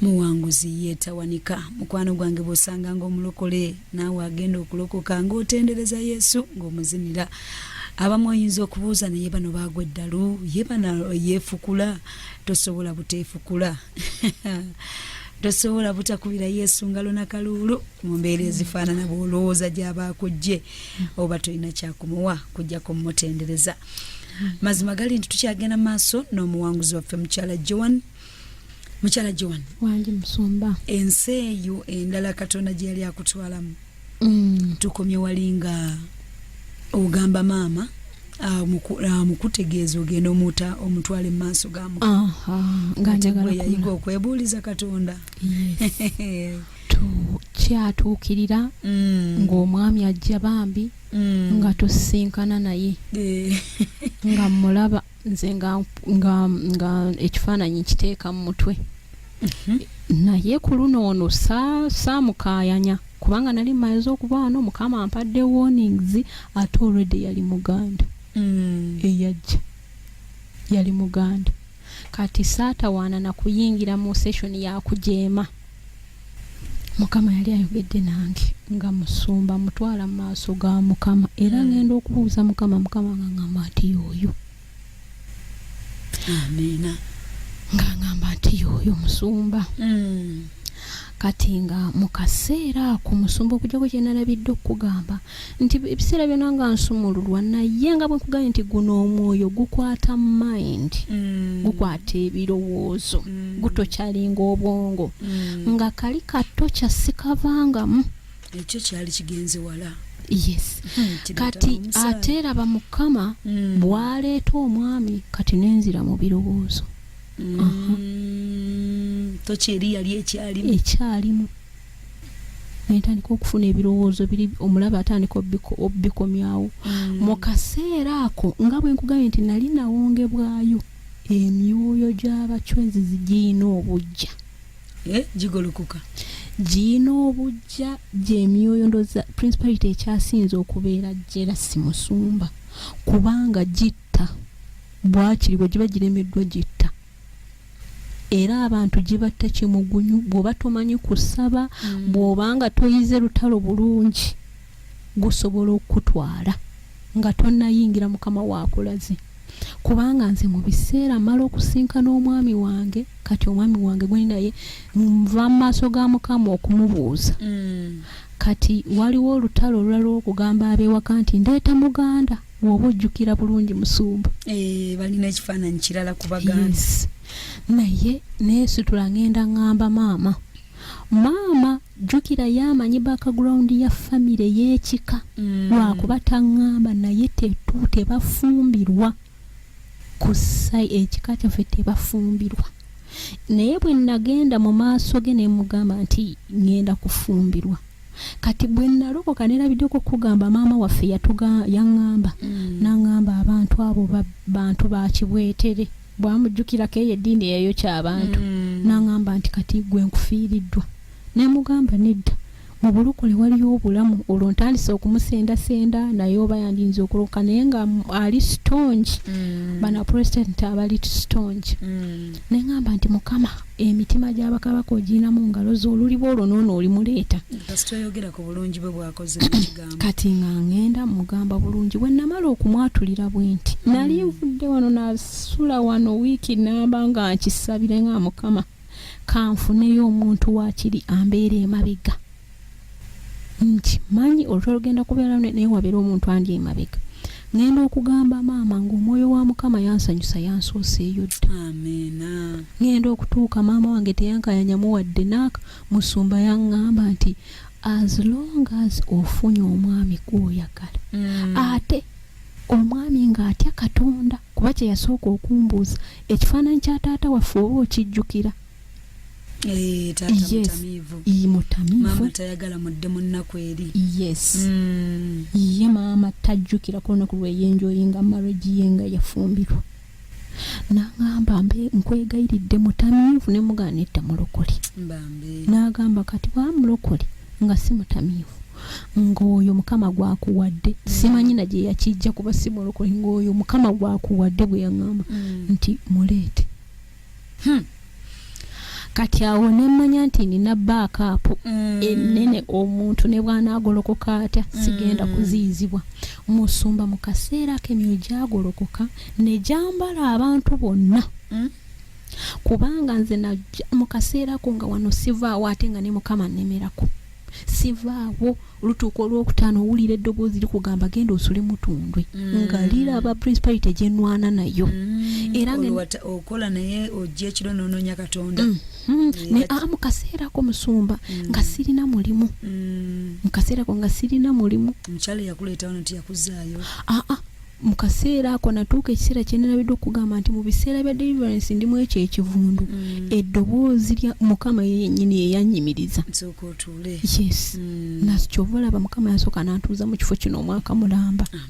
muwanguzi ye tawanika mukwano gwange bwosanga nga omulokole naawe agenda okulokoka ngaotendereza yesu ngaomuzinira abamu oyinza okubuuza naye bano baagwa eddalu ye bana yeefukula tosobola buteefukula tosobola butakubira yesu ngalo na kaluulu mu mbeera ezifaanana bwolowooza gyaba akujje oba tolina kyakumuwa kujjako mumutendereza mazima gali nti tukyagenda mu maaso n'omuwanguzi waffe mukyala joan mukyala joan wangi musumba ensi eyo endala katonda gye yali akutwalamu mm. tukomye wali nga ogamba maama mukutegeeza ogenda omuta omutwale mu maaso ga mukayayiga okwebuuliza katonda kyatuukirira mm. ng'omwami ajja bambi mm. nga tusinkana naye eh. nga mulaba nze nga nga nga ekifaananyi nkiteeka mu mutwe mhm. naye ku luno ono saamukayanya kubanga nali mmaze okuba wano mukama ampadde warnings ate olwedde yali muganda mm. eyajja yali muganda kati saatawaana nakuyingira mu session yakujeema mukama yali ayogedde nange nga musumba mutwala mu maaso ga mukama era ngenda okubuuza mukama mukama nga ngamba nti yooyo amiina nga ngamba nti yooyo musumba mm. kati nga mu kaseera ako musumba okujjako kyenalabidde okukugamba nti ebiseera byona nga nsumululwa naye nga bwekugambye nti guno omwoyo gukwata mind mm. gukwata ebirowoozo mm. gutokyalinga obwongo mm. nga kali kato kyasikavangamu ekyo kyali kigenze wala yes hmm, kati ate eraba mukama mm. bwaleeta omwami kati nenzira mu birowoozo mm. uh -huh. tokyeri yali ekyalimu ekyalimu nentandika okufuna ebirowoozo biri omulaba atandika obikomyawo mm. mu kaseera ako nga bwe nkugambye nti nali nawongebwayo emyoyo gy'abacwenzi zigiyina obujja eh, gigolokoka giyina obujja gyemyoyo ndoza principality ekyasinze okubeera jera si musumba kubanga gitta bwakiri bwe giba giremeddwa gitta era abantu gibatta kimugunyu bwoba tomanyi kusaba mm. bwoba nga toyize lutalo bulungi gusobola okukutwala nga tonayingira mukama wakulaze kubanga nze mu biseera mala okusinkana omwami wange kati omwami wange gweni naye nva mu maaso ga mukama okumubuuza mm. kati waliwo olutalo olulala okugamba abewaka nti ndeeta muganda woba ojjukira bulungi musumba eh, balina ekifaananyi kirala ku baganda naye neesitula ngenda ngamba maama maama jjukira ye amanyi background ya famire y'ekika mm. lwakuba taŋŋamba naye tetu tebafumbirwa ku sai ekika kyaffe tebafumbirwa naye bwe nagenda mu maaso ge ne mugamba nti ŋŋenda kufumbirwa kati bwe nalokoka nerabiddeko okugamba maama waffe yangamba mm. nangamba abantu abo bantu bakibwetere bwamujjukirako eyo eddiini eyayo kyabantu mm. nangamba nti kati gwe nkufiiriddwa nemugamba nedda mu bulokole waliyo obulamu olwo ntandise okumusendasenda naye oba yandinza okuloka naye nga ali stonge mm. bana president abali stonge mm. ne ŋŋamba nti mukama emitima gy'abakabaka ogirina mu ngalo zo oluliba olwo noono olimuleeta kati nga ŋŋenda mugamba bulungi bwe namala okumwatulira bwe nti mm. nali nvudde wano nasula wano wiiki namba nga nkisabire nga mukama kanfuneyo omuntu waakiri ambeera emabega nti manyi olutwa lugenda kubeera lune naye wabeera omuntu andi emabega ngenda okugamba maama ngaomwoyo wa mukama yansanyusa yansooseeyo dda ngenda okutuuka maama wange teyankayanyamu wadde naaka musumba yaŋŋamba nti as long as ofunye omwami gwoyagala mm. ate omwami ng'atya katonda kuba kye yasooka okumbuuza ekifaananyi kya taata waffe oba okijjukira Eh, mutamiivu tayagala mudde mu nnaku eri yes mm. ye maama tajjukira ku lunaku lweyenjoyinga marriage ye nga yafumbirwa nagamba mbe nkwegayiridde mutamiivu ne mugaana edda mulokole nagamba kati bwa mulokole nga si mutamiivu ng'oyo mukama gwakuwadde mm. simanyi na gye yakijja kuba si mulokole ng'oyo mukama gwakuwadde bwe yaŋamba mm. nti muleete hmm. kati awo nemanya nti nina baakapu mm. enene omuntu ne bwanaagolokoka atya mm. sigenda kuziyizibwa musumba mu kaseera ako emyoyo gyagolokoka ne gyambala abantu bonna mm. kubanga nze mu kaseera ako nga wano sivaawo ate nga ne mukama nnemerako sivaawo olutuuka olwokutaano owulira eddoboozi likugamba genda osule mutundwe mm. nga liraba principality gyenwana nayo mm. era okola naye ojja ekiro nononya katonda mm. Mm. naye a ah, mukaseerako musumba mm. nga sirina mulimu mm. mukaseerako nga sirina mulimu omukyalo yakuleetawo nti yakuzaayo aa ah, ah. mu kaseera ako natuuka ekiseera kye nalabidde okugamba nti mu biseera bya deliverance ndi mu ekyo ekivundu mm. eddoboozi lya mukama ye yennyini yeyanyimiriza yes mm. nakyova olaba mukama yasooka nantuuza mu kifo kino omwaka mulamba ah,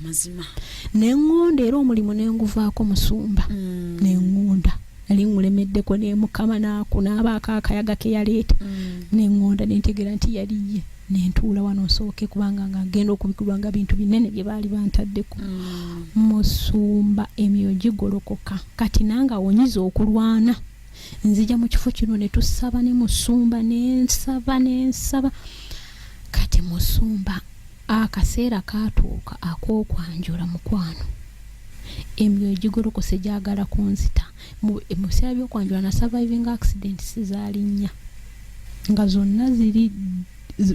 ne ŋŋonda era omulimu ne nguvaako musumba mm. ne ŋŋonda nali ŋŋulemeddeko ne mukama naaku n'abaako akayaga ke yaleeta ne ŋŋonda ne ntegeera nti yali ye nentuula wano nsooke kubanga nga ngenda okubikirwa nga bintu binene bye baali bantaddeko mm. musumba emyoyo gigolokoka kati nange awonyiza okulwana nzija mu kifo kino ne tusaba ne musumba nensaba nensaba kati musumba akaseera katuuka ak'okwanjula mukwano emyoyo gigolokose gyagala kunzita mu biseera by'okwanjula na surviving accidents zaali nnya nga zonna ziri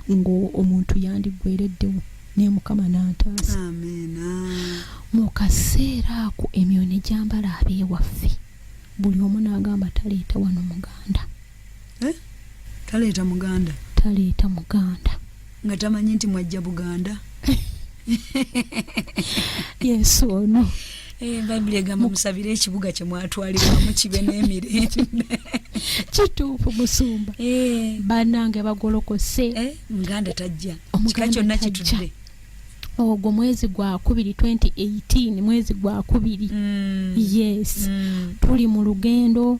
ng'omuntu yandiggwereddewo naye mukama n'antaasa mu kaseera ako emyoyo ne gyambala abeewaffe buli omu n'agamba taleeta wano muganda eh? taleeta muganda taleeta muganda nga tamanyi nti mwajja buganda yesu ono eh, bayibuli egamba musabire ekibuga kyemwatwalibwamu kibe n'emirembe kituufu musumba eh. banange bagolokose eh, muganda tajja kika kyonna kitudde ogwo mwezi gwa kubiri 2018 mwezi gwa kubiri mm. yes mm. tuli mu lugendo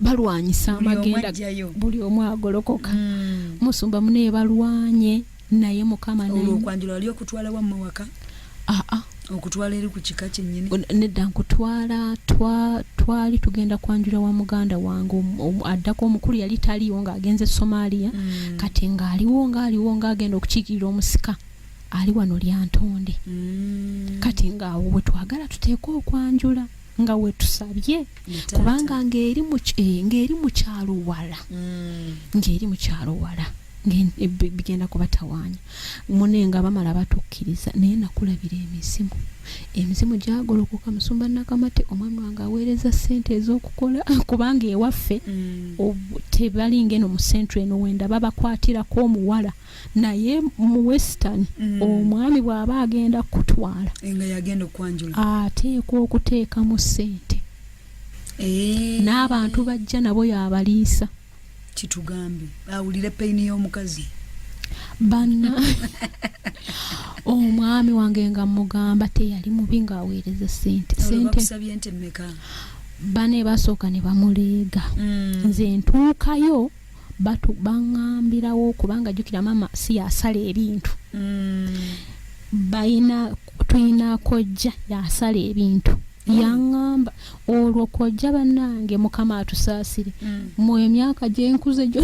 balwanyisa amagenda buli omu agolokoka hmm. musumba munaye balwanye naye mukama olwokwanjula wali okutwala wammwe waka aa okutwala eri ku kika kyennyini nedda nkutwala twali tugenda kwanjula wa muganda wange addako omukulu yali taliiwo ng'agenze e somaliya hmm. kati ng'aliwo ng'aliwo ng'agenda okukiikirira omusika ali wano lyantonde hmm. kati ng'awo bwe twagala tuteekwa okwanjula nga wetusabye kubanga ng'eri eh, mu kyalo wala mm. ng'eri mu kyalo wala eh, bigenda kubatawaanya mune nga bamala batukkiriza naye nakulabira emizimu emizimu gyagolokoka musumba nakamate omwami wange aweereza ssente ez'okukola kubanga ewaffe mm. tebalinga eno mu centre eno wenda babakwatirako omuwala mm. naye mu western mm. omwami bw'aba agenda kukutwala ateekwa okuteekamu ssente eh. n'abantu bajja nabo yabaliisa kitugambe awulire peyini y'omukazi banna omwami wange nga mugamba teyali mubi ng'aweereza sente sente bane basooka ne bamuleega mm. nze ntuukayo batu bangambirawo kubanga jukira mama si yasala ebintu mm. bayina tuyina kojja yasala ebintu mm. yangamba olwo kojja banange mukama atusaasire mm. mu emyaka gyenkuze gyo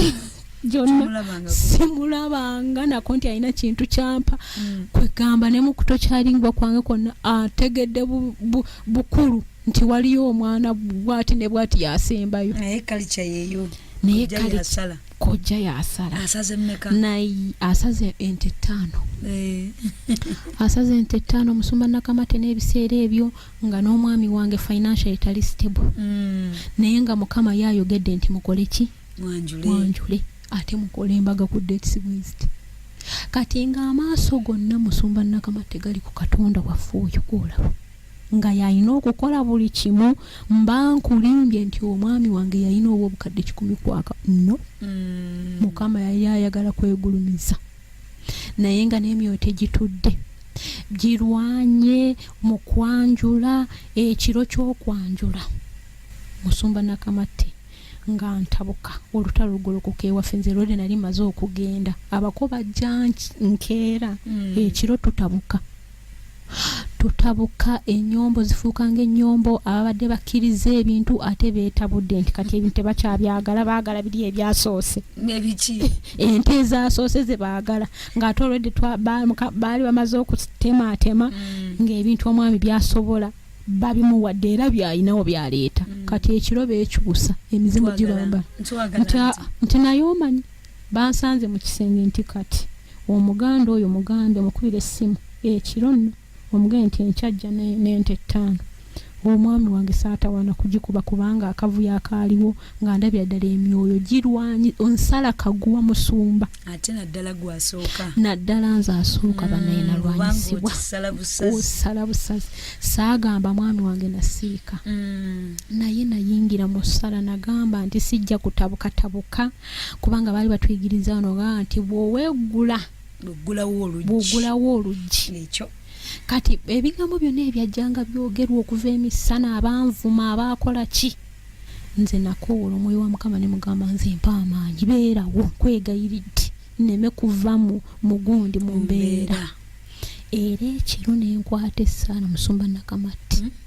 gyonna simulabanga nako nti alina kintu kyampa mm. kwegamba ne mukuto kyalingwa kwange kwonna ategedde bu, bu, bukulu nti waliyo omwana bwati ne bwati yasembayo naye kalica yeyo naye kale kojja yasala asaze mmeka naye asaze ente ttaano eh. asaze ente ttaano omusumba nakamate n'ebiseera ebyo nga n'omwami wange financial etali stable mm. naye nga mukama yayogedde nti mukole ki mwanjule ate mukole embaga ku dates west kati nga amaaso gonna musumba nakamate gali ku katonda waffe oyo gwolaba nga yalina okukola buli kimu mba nkulimbye nti omwami wange yalina oba obukadde kikumi kwaka no mm. mukama yali ayagala kwegulumiza naye nga n'emyoyo tegitudde girwanye mu kwanjula ekiro ky'okwanjula musumba nakamatte nga ntabuka olutalo lugolokoka ewaffe nze lwode nali maze okugenda abako bajja nkeera mm. ekiro tutabuka tutabuka enyombo zifuuka ngaenyombo ababadde bakkiriza ebintu ate betabudde nti kati ebintu tebakyabyagala baagala biri ebyasoose nebiki ente ezasoose zebaagala ngaate olwedde baali bamaze okutemaatema mm. ngaebintu omwami byasobola babimuwadde era byalinawo byaleeta mm. kati ekiro beekyusa emizimu gibamba nti naye omanyi Bansanze mu kisenge nti kati Omuganda oyo mugambe mukubire essimu ekiro nno omugende nti enkya ajja n'ente ettaano. Omwami wange saatawaana kugikuba kubanga akavuyo akaaliwo nga ndabira ddala emyoyo girwanyi onsala kaguwa musumba ate naddala gwasooka naddala nze asooka mm, banaye nalwanyisibwa osala busazi saagamba mwami wange nasiika mm. naye nayingira mu ssala nagamba nti sijja kutabukatabuka kubanga baali batuyigiriza ono ga nti bwoweegula bwogulawo oluggi ekyo kati ebigambo byonna ebyajjanga byogerwa okuva emisana abanvuma abaakola ki nze nakoowola omwoyo wa mukama ne mugamba nze mpa amaanyi beerawo nkwegayiridde nneme kuva mu mugundi mu mbeera era ekiro nenkwata essaala musumba nakamatti mm -hmm.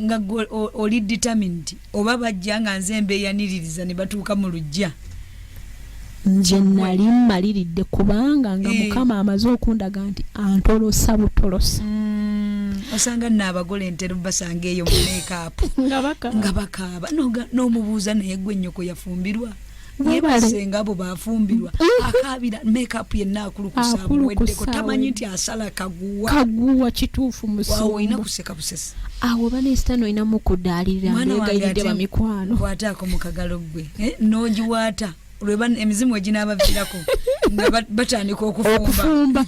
nga gwe oli determined oba bajja nga nze mbeyaniririza ne batuuka mu lujja nze nali mmaliridde kubanga nga eh. mukama amaze okundaga nti antolosa butolosa mm, osanga nno abagole entero basanga eyo mumeekaapu nga bakaaba n'omubuuza naye gwe nnyoko yafumbirwa nebasengabo bafumbirwa mm. akabira makeup yenna akulukusaweddeko tamanyi nti asala kaguwa kaguwa kituufu musolina kuseka busesi awo banesitani olina mukudaalirira mbegayiridde bamikwano kwataako mukagalo gwe eh, nogiwaata lweba emizimu eginabavirako nga batandika okufumba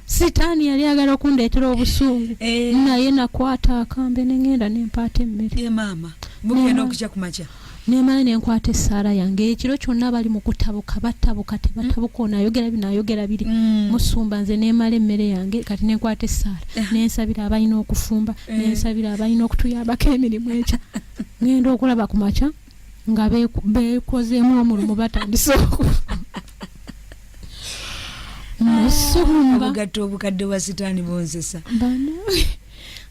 sitaani yali agala okundeetera obusungu eh. naye nakwata akambe nengenda nempaata emmere eh, nemala nenkwata esaala yange ekiro kyonna bali mukutabuka batabuka tebatabuka mm. onayogera binayogera biri mm. musumba nze nemala emmere yange kati nenkwata esaala eh. nensabira abalina okufumba nensabira abalina okutuyambako emirimu ekya ngenda okulaba kumakya nga bekozeemu omulumu batandise oku musuumbaobugatto obukadde bwa sitaani bonzesa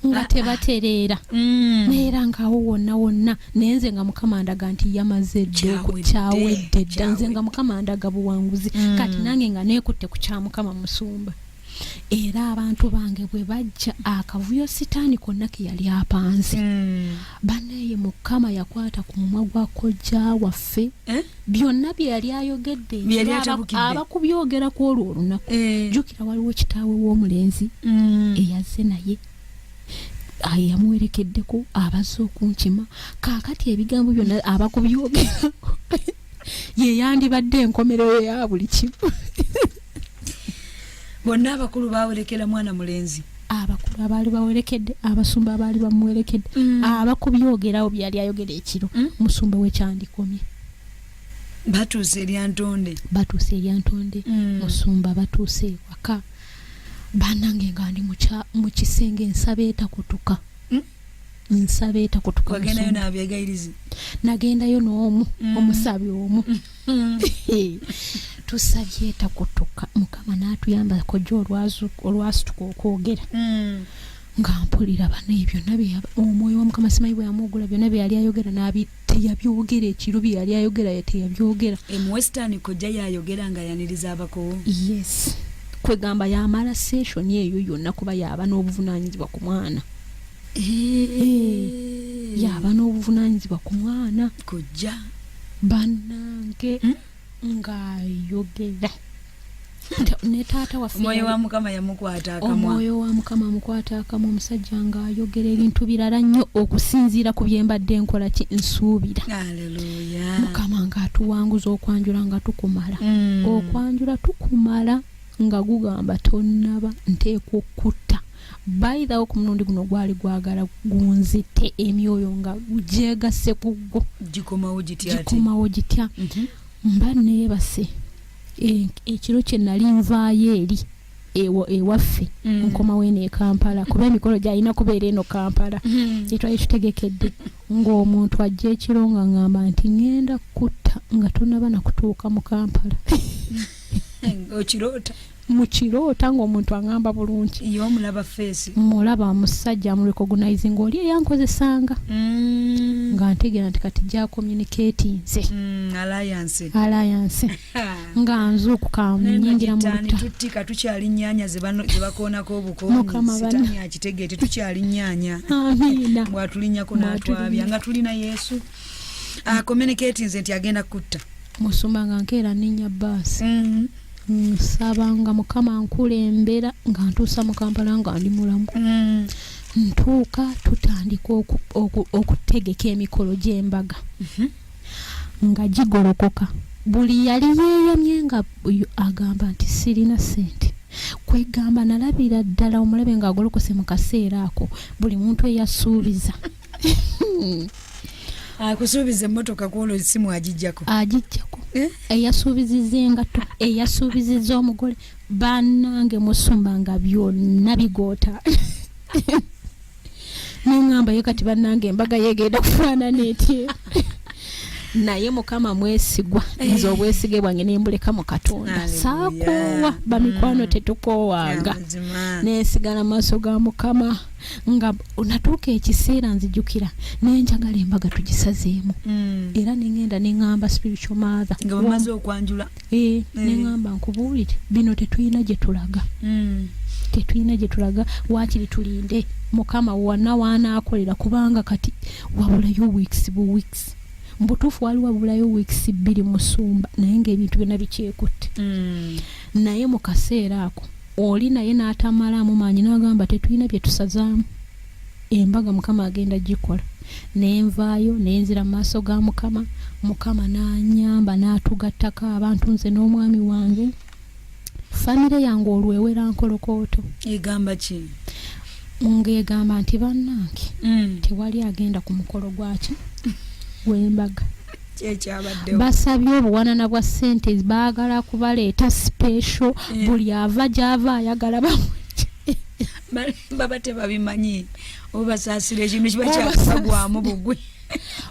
nga tebatereera mm. nayeera ngaawo wonna wonna naye nze nga mukama ndaga nti yamaze ddokyawedde dda nze nga mukama ndaga buwanguzi mm. kati nange nga neekutte ku kya mukama musumba era abantu bange bwe bajja akavuyo sitaani konna ke yali apanze hmm. banaye mukama yakwata ku mumwa gwa kojja waffe eh? byonna bye yali ayogedde abakubyogera ku olwo olunaku eh. jukira waliwo kitaawe w'omulenzi hmm. eyazze naye yamuwerekeddeko abaze okunkima kaakati ebigambo byonna abakubyogera ye yandibadde enkomerero ya buli kimu bonna abakulu bawerekera mwana mulenzi abakulu abaali bawerekedde abasumba abaali bamuwerekedde mm. abakubyogerawo byali ayogera ekiro mm. musumba wekyandikomye batuuse eryantonde batuuse eryantonde mm. musumba batuuse waka banange nga ndi mu kisenge ensaba etakutuka mm. nsabe takutuka wagendayo nabyegayirizi nagendayo noomu mm. omusabi omu mm. tusabye takutuka mukama natuyamba koja olwasituka okwogera mm. nga mpulira bano ebyo omwoyo wa mukama simanyi bwe yamuugula byona byeyali ayogera teyabyogera ekiro bye yali ayogera ye teyabyogera emuwesitani kojja yayogera nga yaniriza abakowo yes kwegamba yamala seshoni eyo yonna kuba yaba n'obuvunanyizibwa ku mwana yaba n'obuvunanyizibwa ku mwana kojja banange hmm? ng'ayogera ne taata waffeomwoyo wa mukama yamukwata akamwa omwoyo wa mukama amukwata akamwa omusajja ng'ayogera ebintu birala nnyo okusinziira ku bye mbadde nkola ki nsuubira mukama ng'atuwanguza okwanjula nga tukumala mm. okwanjula tukumala nga gugamba tonnaba nteekwa okutta bayidhawo ku mulundi guno gwali gwagala gunzite emyoyo nga gyegase ku gwo gikomawo gitya mhm. mba neebase e, ekiro kye nali nvaayo eri ewaffe mm. nkomawo eno ekampala kuba emikolo gyalina kubeera eno kampala mm. gyetwali tutegekedde ng'omuntu ajja ekiro nga ngamba nti ŋenda kutta nga tonaba nakutuuka mu kampala okiroota mukiroota ngaomuntu angamba bulungi mulaba musajja murecognizing oli eyankozesanga mm. nga ntegera nti kati gyakomunicati nze mm, alliance nga nzuukuka nyingira mukamaabatulinyakotwabya nga tulina yesu akomunicati ah, nze nti agenda kutta musumba nga nkeera nenya baasi mm-hmm. nsaba nga mukama nkulembera nga ntuusa mu kampala nga ndi mulamu mm. ntuuka tutandika okutegeka emikolo gy'embaga mhm. nga gigolokoka buli yali yeeyamye nga agamba nti sirina sente kwegamba nalabira ddala omulabe ng'agolokose mu kaseera ako buli muntu eyasuubiza akusuubiza emmotoka kwolwo esimu agijjako agijjako eh? eyasuubiziza engatto eyasuubiziza omugole banange musumba nga byonna bigoota neŋamba ye kati banange embaga yegenda kufaanana etye naye mukama mwesigwa eh. nze obwesige bwange nembuleka mu katonda saakoowa bamikwano mm. tetukoowanga nensigala maaso ga mukama nga natuuka ekiseera nzijukira naye njagala embaga tugisazeemu mm. era nengenda neŋamba spiritual mother nga bamaze okwanjula e, eh, e. Eh. neŋamba nkubuulire bino tetulina gye tulaga mm. tetulina gye tulaga waakiri tulinde mukama wana waanaakolera kubanga kati wabulayo weeks bu weeks mbutuufu wali wabulayo weeks bbiri musumba naye ngaebintu byona bikyekutte mm. naye mu kaseera ako oli naye n'atamalaamu maanyi n'agamba tetulina bye tusazaamu embaga mukama agenda gikola naye nvaayo naye nzira mu maaso ga mukama mukama n'anyamba n'atugattako abantu nze n'omwami wange famire yange olwewera nkolokooto egamba ki ng'egamba nti bannange mm. tewali agenda ku mukolo gwaki w'embaga basabye obuwanana bwa sente baagala kubaleeta sipesho eh. buli ava gyava ayagala baba tebabimanyi obasaasira ekintu kiba kyakugwamu bugwe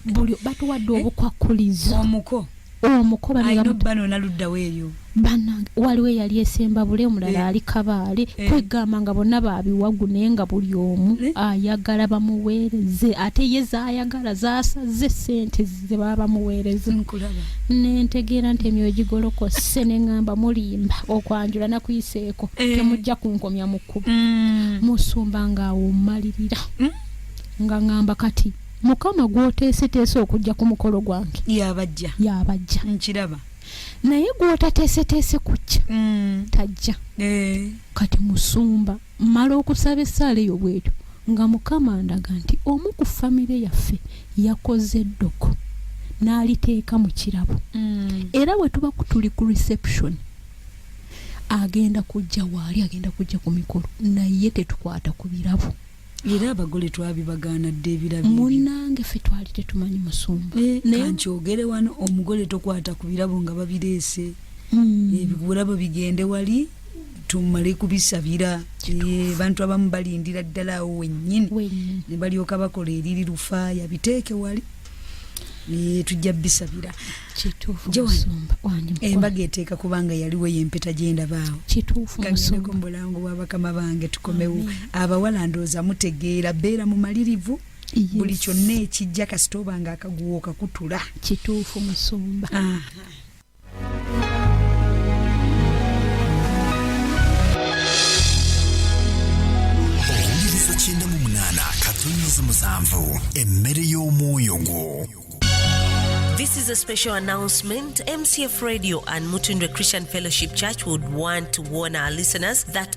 buli batuwadde eh? obukwakulizo omuko omuko bano naluddawo eyo banange waliwo eyali esembabule omulala eh. ali kabaale eh. kwegamba nga bonna babiwagu naye nga buli omu eh. ayagala bamuweereze ate ye zayagala zasaze sente zebaba bamuweereza nentegeera nti emyoyo gigolokose neŋamba mulimba okwanjula nakuyiseeko temujja kunkomya mu kkubo mm. musumba ngaawumalirira mm. nga ŋamba kati mukama gwoteeseteese okujja ku mukolo gwange yabajja yabajja nkiraba naye gwotateeseteese kujja mm. tajja eh. kati musumba mala okusaba essaala eyo bwetyo nga mukama ndaga nti omu ku famire yaffe yakoze eddoko n'aliteeka mu kirabo mm. era bwe tuba kutuli ku reception agenda kujja waali agenda kujja ku mikolo naye tetukwata ku birabo era abagole twabibagaana dda ebirabo munnange ffe twali tetumanyi musumba eh, kankyogere wano omugole tokwata ku birabo nga babireese hmm. ebirabo bigende wali tumale kubisabira eh, bantu abamu balindira ddala awo wennyini ne balyoka bakola eriri lufaaya biteeke wali tujja bisabira embaga eteeka kubanga yaliwo yempeta gyendabaawo mulango bwabakama bange tukomewo abawala ndooza mutegeera beera mumalirivu buli kyonna ekijja kasita obanga akaguwo okakutula kituufu musumba owuliriza kyenda mu munaana katonnyezi musanvu emmere y'omwoyo gwo This is a special announcement. MCF Radio and Mutundwe Christian Fellowship Church would want to warn our listeners that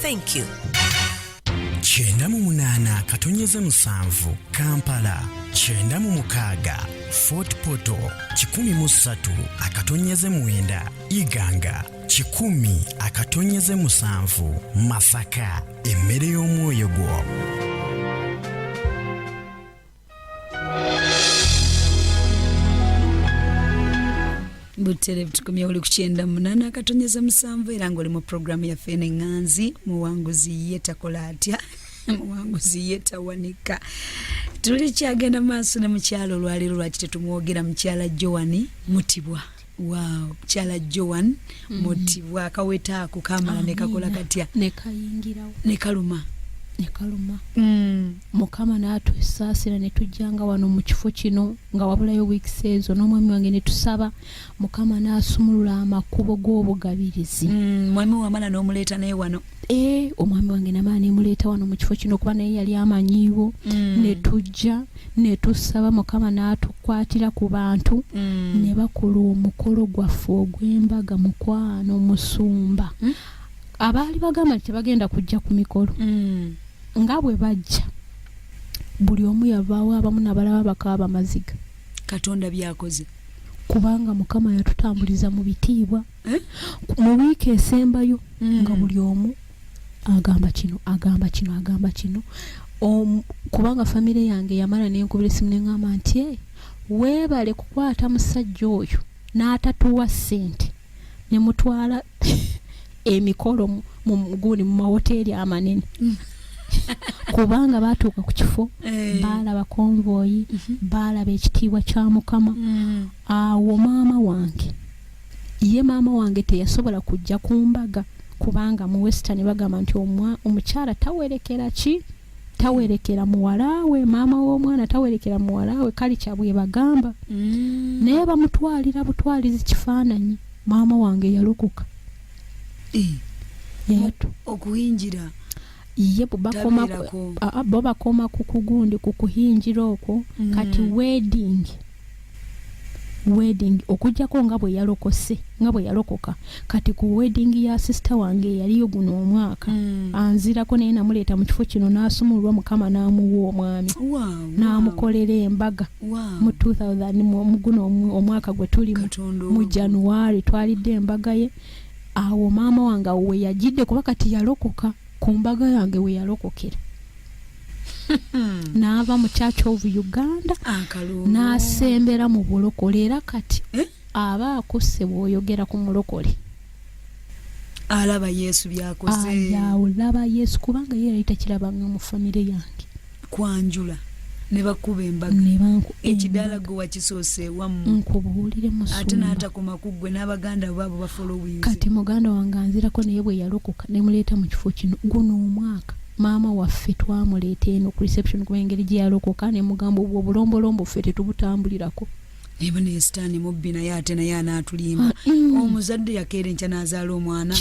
thank you kyenda mu munaana katonyeze musanvu kampala kyenda mu mukaaga fort poto kikumi mu ssatu akatonyeze mwenda iganga kikumi akatonyeze musanvu masaka emmere y'omwoyo gwo butere butukumya oli kukyenda munana akatonyeza musanvu era nga oli mu programu yaffe neŋŋanzi muwanguzi ye takola atya muwanguzi ye tawanika tulikyagenda maaso ne mukyalo olwaleero lwaki tetumwogera mukyala joani mutibwa Wow, chala Joan mm -hmm. moti wakaweta ako kamala ne kakola katya ne kayingira ne kaluma ne kaluma mm. mukama natu sasira ne tujanga wano mu kifo kino nga wabula yo week sezo no mwami wange ne tusaba mukama nasumulula amakubo go bugabirizi mm, mwami wa mala no muleta naye wano eh omwami wange na mala ne muleta wano mu kifo kino kuba naye yali amanyiwo mm. ne tujja netusaba mukama n'atukwatira ku bantu mm. ne bakola omukolo gwaffe ogw'embaga mukwano musumba mm. abaali bagamba nti tebagenda kujja ku mikolo mm. nga bwe bajja buli omu yavaawo abamu nabalaba bakaaba amaziga katonda byakoze kubanga mukama yatutambuliza mu bitiibwa eh? mu wiiki esembayo mm. nga buli omu agamba kino agamba kino agamba kino kubanga famire yange yamala nenkubira esimu neŋamba nti e weebale kukwata musajja oyo n'atatuwa ssente ne mutwala emikolo mu gundi mu mawoteeri amanene mm. kubanga baatuuka ku kifo eh. baalaba konvoyi mhm. baalaba ekitiibwa kya mukama mm. awo maama wange ye maama wange teyasobola kujja ku mbaga kubanga mu western bagamba nti omukyala tawerekera ki tawerekera muwalawe maama w'omwana tawerekera muwalawe kali kyabwebagamba mm. naye bamutwalira butwalizi kifaananyi maama wange yalokoka eh. okuyingira ye bubakoma bo bakoma ku kugundi ku kuhingira okwo mm. kati wedding wedding okujjako nga bwe yalokose nga bwe yalokoka kati ku wedding ya sisita wange eyaliyo guno omwaka mm. anzirako naye namuleeta mu kifo kino n'asumulwa mukama n'amuwa omwami wow, n'amukolera wow. embaga wow. mu 2000 muguno omwaka gwe tulimu mu january twalidde embaga ye awo maama wange awo weyajidde kuba kati yalokoka ku mbaga yange weyalokokera naava mu church of uganda nasembera mu bulokole era kati eh? aba akusse bwoyogera ku mulokole alaba yesu byakoze olaba yesu kubanga ye yali takirabanga mu famire yange kwanjula nebakuba embaga ekidaala gwe wakisoose wamuate natakoma ku ggwe n'abaganda baabo bafolowingkati muganda wange anzirako naye bwe yalokoka nemuleeta mu kifo kino guno omwaka maama waffe twamuleeta eno ku reception kuba engeri gye yalokoka nemugamba obwo obulombolombo ffe tetubutambulirako naye bano esitaani mubbi naye ate naye anaatulimba ah, mm. omuzadde yakeera enkya n'azaala omwana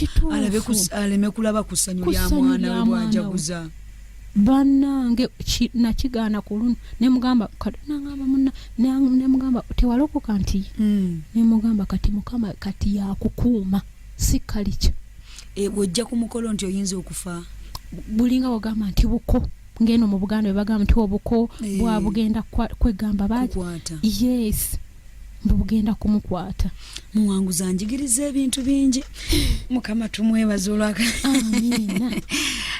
aleme kulaba ku ssanyu lya mwana we bwajaguza banange nakigaana ku luno nemugamba katonangamba muna nemugamba tewalokoka nti hmm. nemugamba kati mukama kati yakukuuma si kalikyo e, ojja ku mukolo nti oyinza okufa bulinga wagamba nti buko ngeno mu buganda webagamba nti obuko eh. bwabugenda kwegamba baki yes bugenda kumukwata muwanguzi anjigiriza ebintu bingi mukama tumwebaza olwaka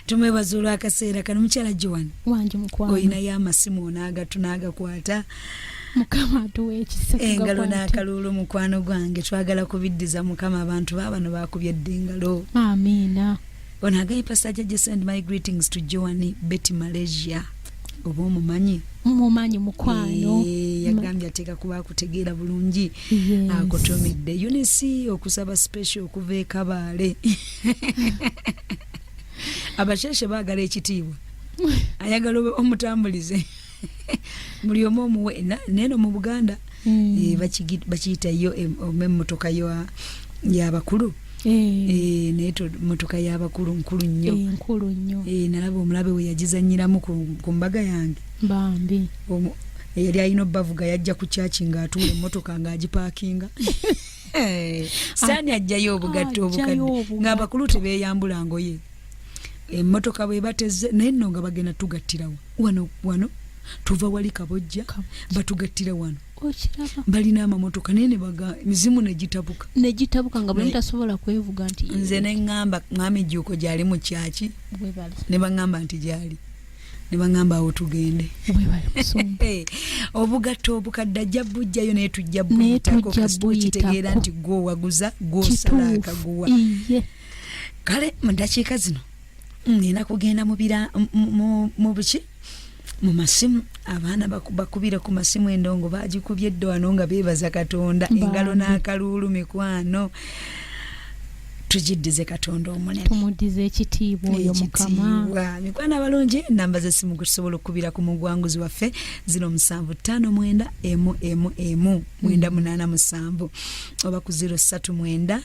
tumwebaza olwakaseera kano mukyala joan olinayo amasimu onaagatu naagakwata mukama atuwa ekisa engalo n'akaluulu mukwano gwange twagala kubiddiza mukama abantu baabano baakubye dda engalo amiina Ono agaye Pastor Jaja send my greetings to Joanne Betty Malaysia. Obo mumanyi? Mumanyi mukwano. Eee, eh, yagambye ateka kuba kutegeera bulungi. Yes. Akotomidde. Ah, Eunice okusaba special okuva e Kabale. Abasheshe bagala ekitiibwa. Ayagala omutambulize. buli omu omuwe neno mu buganda mm. eh, bakiyita yo emotoka yabakulu eh. eh, naye motoka yabakulu nkulu nnyo nkulu nnyo nalaba omulabe we yagizanyiramu ku mbaga yange bambi eyali alina obavuga yajja ku kyaki nga atuula emotoka nga agipakinga saani ajjayo obugatto obukadde nga abakulu tebeyambula ngoye emmotoka bwe bateze naye nno nga bagenda tugattirawo wano wano tuva wali kabojja batugattira wano balina amamotoka naye nebaga mizimu negitabuka negitabuka nga buli tasobola kwevuga nti nze neŋŋamba mwami juuko gyali mu kyaki ne baŋŋamba nti gyali ne baŋŋamba awo tugende obugatto obukadde ajja bujjayo naye tujja buyitako kasita okitegeera nti gwowaguza gwosala akaguwa kale mu ddakiika zino nina kugenda mubira mu buki mu masimu abaana bakubire ku masimu endongo bagikubye dde wano nga beebaza katonda engalo n'akaluulu mikwano tugiddize katonda omunene tumudize ekitiibwa oyo mukama mikwano abalungi namba zesimu kusobola okukubira ku mugwanguzi waffe zino musanvu ttaano mwenda emu emu emu mwenda mm. munaana musanvu oba ku ziro ssatu mwenda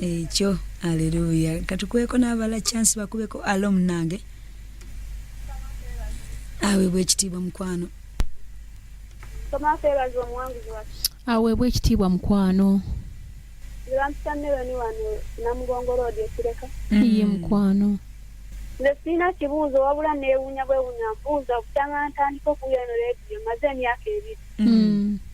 ekyo aleluya katukweko n'abala chance bakubeko alo munange aweebwa ekitiibwa mukwano aweebwa ekitiibwa mukwano iye mukwano nze sirina kibuuzo wabula neewuunya bwewuunya mbuuza obutanga ntandika okuwulira eno leediyo maze emyaka ebiri mm.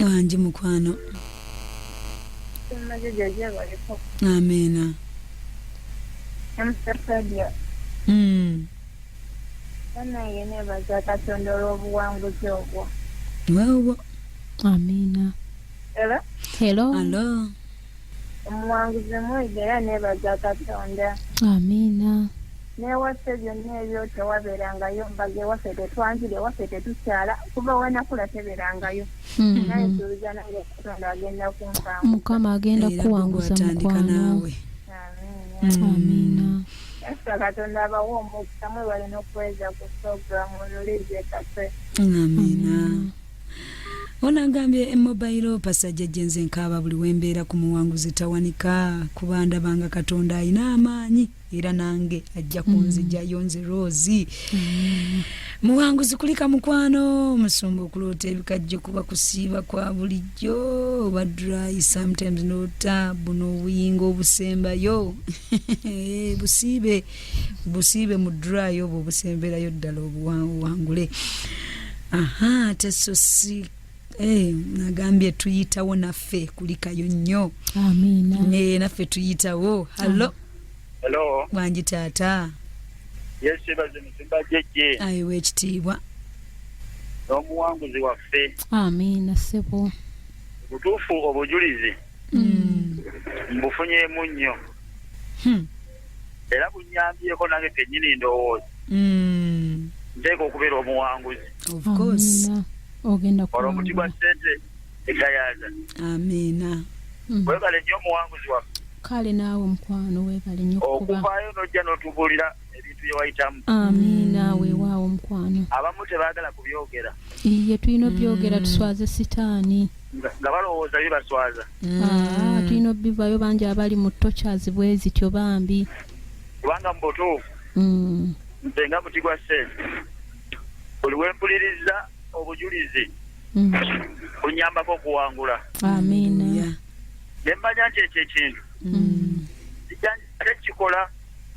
wangi mukwano amiina mm. banaye nebaza katonda olwobuwanguzi obwo wewwo amiina helo helo omuwanguzi mwega era nebaza katonda amiina newaffe byonna ebyo tewabeerangayo mbaga ewaffe tetwanjira ewaffe tetukyala kuba wenakula tebeerangayo hmm. naye suubiza nange katonda agenda kunfaa mukama agenda kuwanguza mukwano amiina esa katonda abawa omukisa mwebale n'okuweza ku programu olulizekase amiina ono agambye emobayiro pasajja jenze nkaaba buli wembeera ku muwanguzi tawanika kuba ndabanga katonda alina amaanyi era nange ajja kunzijayo mm. nze roosi mm. muwanguzi kulika mukwano omusumba okuloota ebikajjo kuba kusiiba kwa bulijjo oba dry sometimes nota buno obuyinga obusembayo busiibe busiibe mu dry obwo obusemberayo ddala obuwangule aha teso si Hey, eh, nagambye tuyitawo naffe kulikayo nnyo naye naffe tuyitawo hallo hallo bwangi taata yesibaze musimba jeje ayiwa ekitiibwa n'omuwanguzi waffe amiina ssebo butuufu obujulizi hmm. mbufunyemu nnyo hmm. era bunyambyeko nange kenyini ndowooza hmm. nteeka okubeera omuwanguzi olwo omuti gwa sente egayaza amiina webale nnyo omuwanguzi waffe kale naawe mukwano webale nnyo okuvaayo nojja notubulira ebintu bye wayitamu amiina mm. weewaawo mukwano abamu tebaagala kubyogera iye tulina obyogera mm. tuswaze sitaani nga balowooza bibaswaza mm. ah, tulina obivayo bangi abali mu tochazi bwe zityo bambi kubanga mu butuufu nze nga muti gwa sente buli wempuliriza obujulizi bunyambako okuwangula amiina ne mmanya nti ekyo ekintu tekikola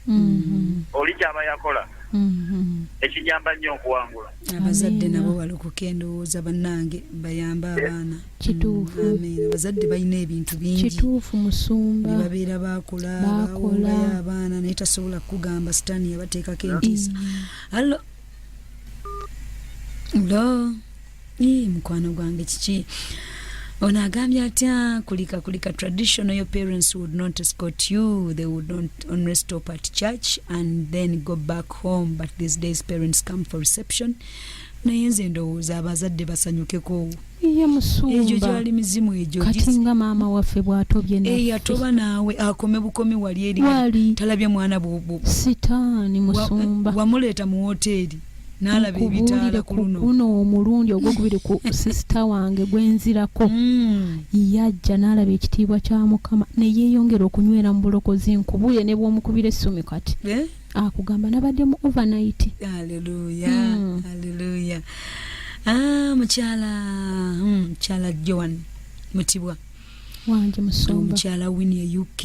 mm-hmm. oli kyaba yakola mm-hmm. ekinyamba nnyo okuwangula abazadde nabo balokoka endowooza bannange bayambe eh. abaana kituufu mm, abazadde balina ebintu bingi kituufu musumba babeera bakola bakola abaana naye tasobola kukugamba sitaani yabateekako entiisa mm. Hello. Ii, mukwano gwange kiki ono agambye atya kulika kulika traditional your parents would not escort you they would not only stop at church and then go back home but these days parents come for reception naye nze ndowooza abazadde basanyukeko iye musumba kati nga maama waffe bwatobye eyatoba eh, naawe akome bukomi wali eri talabye mwana bwobu sitaani musumba wamuleeta mu woteeri nalaba ebitaala ku luno guno omulundi ogwokubiri ku sisita wange gwenzirako hmm. yajja nalaba ekitiibwa kya mukama neyeyongera okunywera mu bulokozi nkubule nebwomukubira essumi kati eh? akugamba nabadde mu overnight aleluya mm. aleluya ah, mukyala mm, mukyala mm, joan mutibwa wanje musumba omukyala wini e uk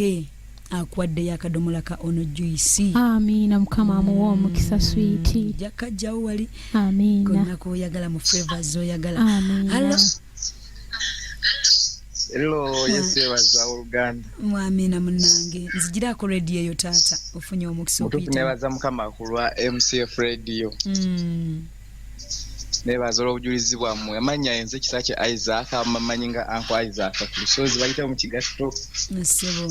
akuwaddeyo akadomola ka ono juisi amiina mukama mm. amuwa omukisa switi jakajjawo wali amiina konakoyagala mu flavors oyagala amiina Hello? Hello, Yesu yebaza oluganda. Mwamina munange. Nzijira ku radio eyo taata ofunye omukisa okuyita. Mutufu nebaza mukama kulwa MCF radio. Mm. Nebaza olwobujulizi bwammwe. Amanya enze kisa kye Isaac amamanyi nga anko Isaac ku lusozi bayita mu kigatto. Nasebo.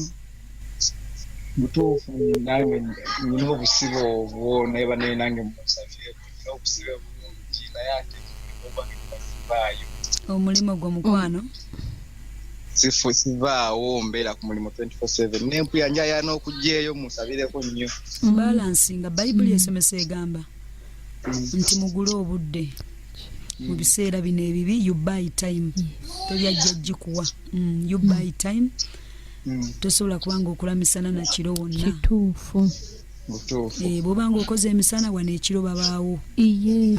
Mutufu nange nina obusibo obwo naye banene nange musafieko. omulimu gwo mukwano sifu sivaawo mbeera ku mulimu 24/7 nempuya njaya n'okugyeyo musabireko nnyo balansi nga bayibuli esomesa egamba nti mugule obudde mu mm. biseera bino ebibi you buy time mm. tebyajja gikuwa mm, you buy time tosobola kubanga okulamisana nakiro wonna kituufu Eh, bwoba nga okoze emisana wano ekiro babaawo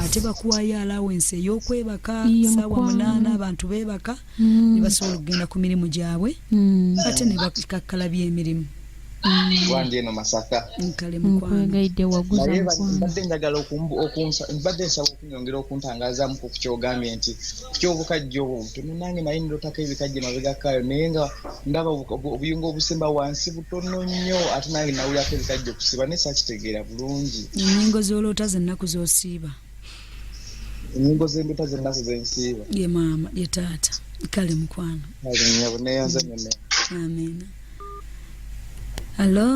ate bakuwayo alawensi eyokwebaka saawa munaana abantu bebaka mm. nebasobola okugenda ku mirimu gyabwe mm. ate nebakakkala byemirimu mm. wange eno masaka nkale mukwano nyongera okuntangazaamu ku kukyogambye nti kukyobukajja obwo butono nange naye nirotako ebikajja emabegakaayo naye nga ndaba obuyungo obusemba wansi butono nnyo ate nange nawulirako ebikajja okusiiba naye sakitegeera bulungi enyingo zoloota zennaku zosiiba enyingo zendoota zennaku zensiiba ye maama ye taata kale mukwano neyanza nyona amina hallo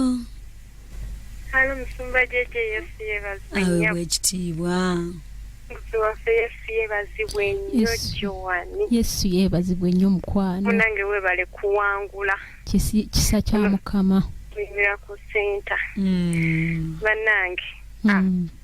Halo musumba JJ Yesu yebazibwe nnyo. Awe bwekitiibwa. Musi waffe Yesu yebazibwe nnyo Joani. Yesu yebazibwe nnyo mukwano. Munange webale kuwangula. Kisa kya Mukama. Tuyimira ku senta. Mm. Banange. Mm. Ah.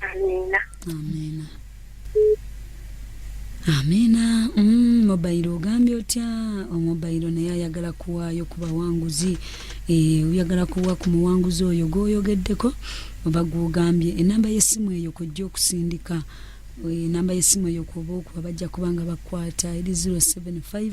amiina amiina amiina mm, mobayiro ogambye otya omobayiro naye ayagala kuwaayo ku bawanguzi e, oyagala kuwa ku muwanguzi oyo gwoyogeddeko oba gwogambye enamba yesimu eyo kojja okusindika enamba yesimu eyo kuba okuba bajja kubanga bakwata eri 075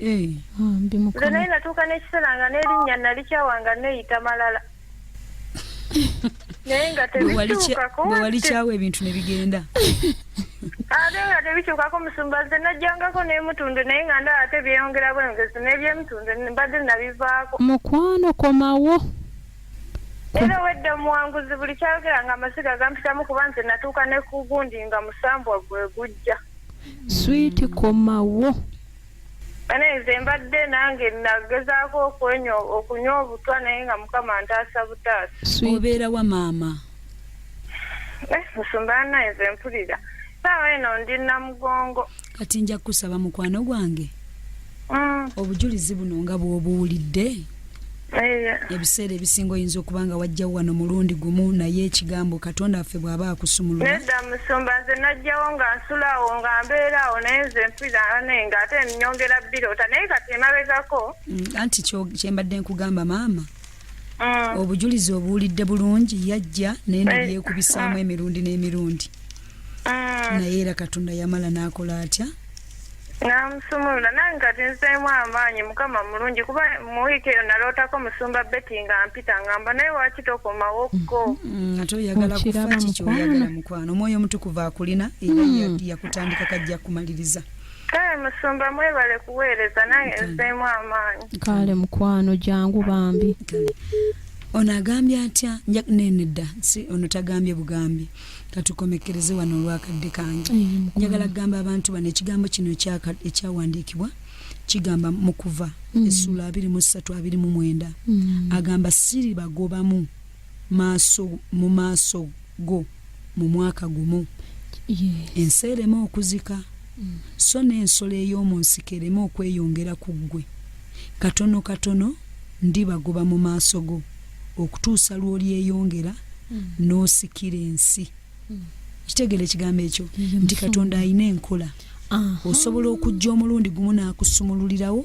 Eh, ah, nze naye natuuka n'ekiseera nga n'erinnya nalikyawa nga neeyita malala naye nga tebikyukako bwewalikyawa ebintu ne bigenda ate nga tebikyukako musumba nze najjangako n'emutundu naye nga ndaba ate byeyongera bweyongezi n'ebyemutundu mbadde nabivaako mukwano komawo era owedde omuwanguzi buli kyayogera nga amasiga gampitamu kuba nze natuuka nekugundi nga musambwa gwe gujja swiiti komawo bane nze mbadde nange nagezaako okwenyo okunywa obutwa naye nga mukama ntaasa butaasa obeera wa maama eh, musumba ana nze mpulira saawa eno ndi namugongo kati nja kukusaba mukwano gwange mm. obujulizi buno nga bwobuwulidde ebiseera ebisinga oyinza okuba nga wajjawo wano mulundi gumu naye ekigambo katonda waffe bw'aba akusumulula nedda musumba nze najjawo nga nsulaawo nga mbeeraawo naye nze mpirane nga ate nyongera birota naye kati emabegako mm, anti kyembadde nkugamba maama mm. obujulizi obuwulidde bulungi yajja naye nabyekubisaamu eh, ah. emirundi n'emirundi mm. naye era katonda yamala n'akola atya namusumulula nange kati nzeemu amaanyi mukama mulungi kuba mu wiiki eyo nalootako musumba beti nga mpita ngamba naye waki tokomawokko mm-hmm. ate oyagala kufa kiki oyagala mukwano omwoyo omutukuvu akulina era mm. yakutandika kajja kumaliriza kale musumba mwebale kuweereza nange nzeemu amaanyi kale mukwano jangu bambi ono agambye atya nja nenedda si ono tagambye bugambi katukomekereze wano olwakadde kange njagala kugamba abantu bano ekigambo kino ekyawandiikibwa kigamba mu kuva mm. essuula abiri mu ssatu abiri mu mwenda mm. agamba siri bagobamu maaso mu maaso go mu mwaka gumu ensi ereme okuzika mm. so n'ensolo ey'omu nsiko ereme okweyongera ku ggwe katono katono ndibagoba mu maaso go okutuusa lw'olyeyongera n'osikira ensi kitegeera ekigambo ekyo nti katonda alina enkola osobola okujja omulundi gumu n'akusumululirawo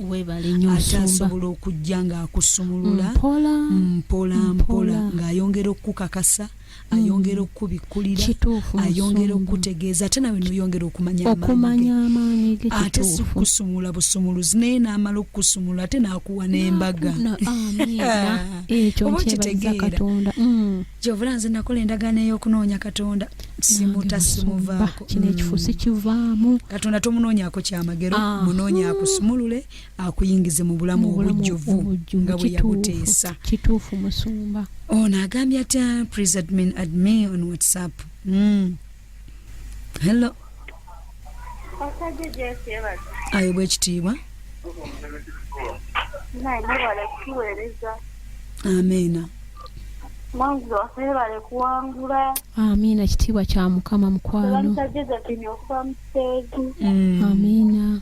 ate asobola okujja ng'akusumulula mpola mpola ng'ayongera okukukakasa hmm. ayongera okukubikkulira ayongera okukutegeeza ate nawe noyongera okumanya amaanyi ge ate sikusumula busumuluzi naye naamala okukusumula ate naakuwa n'embaga oba okitegeera hmm. gyovula nze nakola endagaano ey'okunoonya katonda simuta simuvaako kino ekifusi hmm. kivaamu katonda tomunoonyako kyamagero munoonyakusumulule akuyingize mu bulamu obujjuvu nga bwe yabuteesa kituufu musumba ono agambye atya please admin admin on whatsapp mm. hello ayo bwekitiibwa amiina mwanguzi waffe bale kuwangula amiina kitiibwa kya mukama mukwano amiina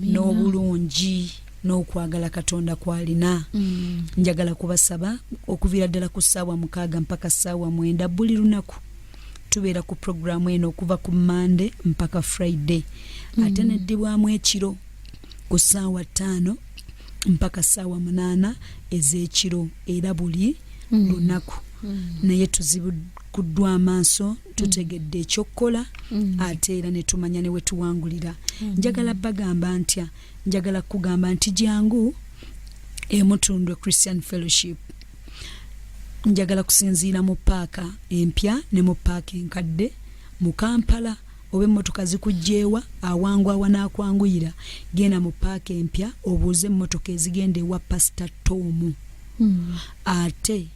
n'obulungi n'okwagala katonda kwalina mm. njagala kubasaba okuviira ddala ku ssaawa mukaaga mpaka ssaawa mwenda buli lunaku tubeera ku puroguramu eno okuva ku mande mpaka friday mm. ate neddibwamu ekiro ku ssaawa ttaano mpaka ssaawa munaana ez'ekiro era buli mm. lunaku mm. naye tuzibudde kuddwa amaaso tutegedde ekyokukola mm. ate era netumanya newetuwangulira mm. njagala bagamba ntya njagala kugamba nti jangu emutundwe christian fellowship njagala kusinziira mu paaka empya ne mu paaka enkadde mu kampala oba emmotoka zikugjeewa awangu awanakwanguyira genda mu paaka empya obuuze emmotoka ezigenda ewa pasita toomu mm. ate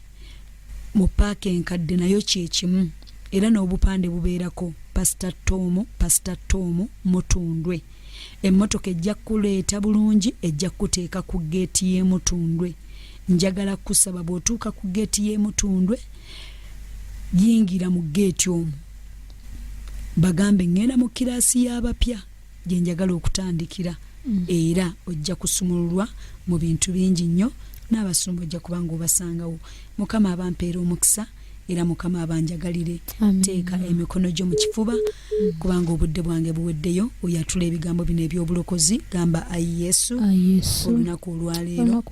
Mu paaka enkadde nayo kye kimu era n'obupande bubeerako Pasita Ttoomu, Pasita Ttoomu, Mutundwe. Emmotoka ejja kukuleeta bulungi, ejja kukuteeka ku ggeeti y'e Mutundwe. Njagala kukusaba bw'otuuka ku ggeeti y'e Mutundwe, yingira mu ggeeti omwo bagambe ŋŋenda mu kiraasi y'abapya. gye njagala okutandikira mm. era ojja kusumululwa mu bintu bingi nnyo n'abasumba ojja kuba nga obasangawo mukama abampeera omukisa era mukama abanjagalire teeka emikono gyo mu kifuba mm. kubanga obudde bwange buweddeyo oyatula ebigambo bino ebyobulokozi gamba ayi yesu olunaku olwaleero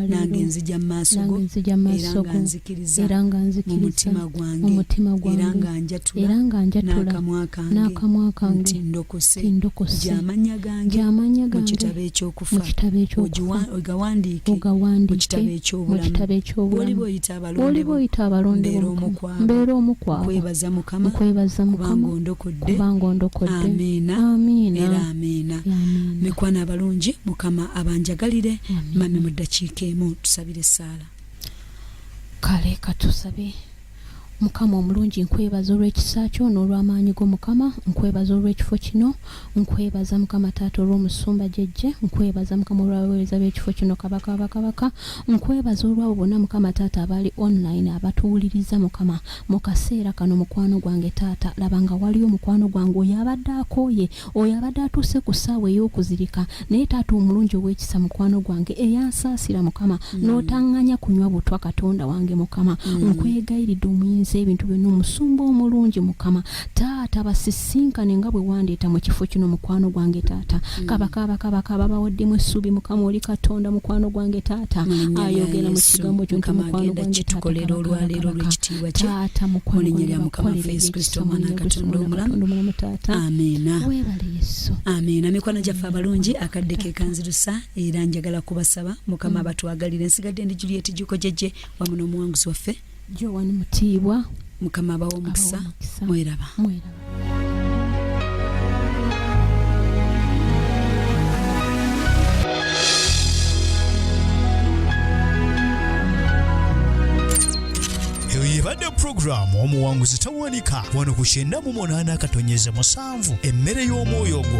nange nzija mu maaso go era nga nzikiriza mu mutima gwange era nga nja njatula n'akamwa kange nti ndokose gy'amanya gange mu kitabo eky'okufa ogawandiike mu kitabo eky'obulamu waliba oyita abalondebo mbeera omu kwabo nkwebaza mukama kubanga ondokodde amiina era amiina mikwana abalungi mukama abanjagalire mami mu ddakiika emu tusabire essaala kale katusabe Mukama omulungi nkwebaza olw'ekisa kyo n'olw'amaanyi go Mukama nkwebaza olw'ekifo kino nkwebaza Mukama taata olw'omusumba gyejje nkwebaza Mukama olw'abaweereza b'ekifo kino kabaka abakabaka nkwebaza olw'abo bonna Mukama taata abali online abatuwuliriza Mukama mu kaseera kano mukwano gwange taata laba nga waliyo mukwano gwange oyo abadde akooye Oyo abadde atuuse ku ssaawa ey'okuzirika naye taata omulungi ow'ekisa mukwano gwange eyansaasira mukama mm. n'otaŋŋanya kunywa butwa katonda wange mukama mm. nkwegayiridde omuyinza ebintu byonna omusumba omulungi mukama taata basisinkane nga bwe wandeeta mu kifo kino mukwano gwange taata mm. kabakaabakabaka babawaddemu essuubi mukama oli katonda mukwano gwange taata ayogera mu kigambo kyo nti mukwano gwange taata mukwano gwange bakolere ekisa omwana katonda omulamu taata amiina webale yesu amiina mikwano gyaffe abalungi akadde kekanzirusa era njagala kubasaba mukama abatwagalire mm. nsigadde ndi juliet jukojeje wamu n'omuwanguzi waffe joan mutiibwa mukama abawa omukisa mweraba eyo yebadde programu omuwanguzi Monica wano ku kyenda mu munaana akatonyeze musanvu emmere y'omwoyo ogwo